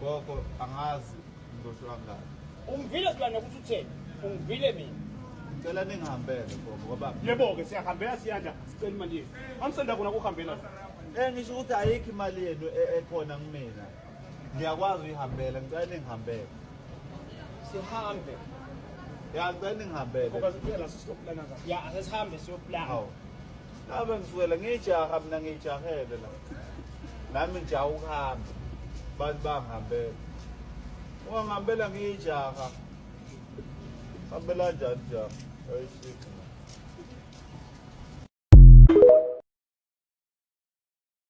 Gogo angazi ngizosho kangaki. Ungivile silwane ukuthi utheni? Ungivile mina. Ngicela ningihambele gogo ngoba Yebo-ke siyahambela siyanda sicela imali yethu. Amsenda kona kuhambela. eh ngisho ukuthi ayikho imali yenu e- ekhona kumina. Ngiyakwazi uyihambela ngicela ningihambele. Sihambe. Ya ngicela ningihambele. Ngoba siphela sisizopulana kahle. Ya asesihambe siyoplana. Hawu. Abe ngisukela ngijaha mina ngijahele la. Nami ngijaha ukuhamba. Abantu bangihambela. Ungangihambela ngijaha. Hambela njani jaha? Ay shit.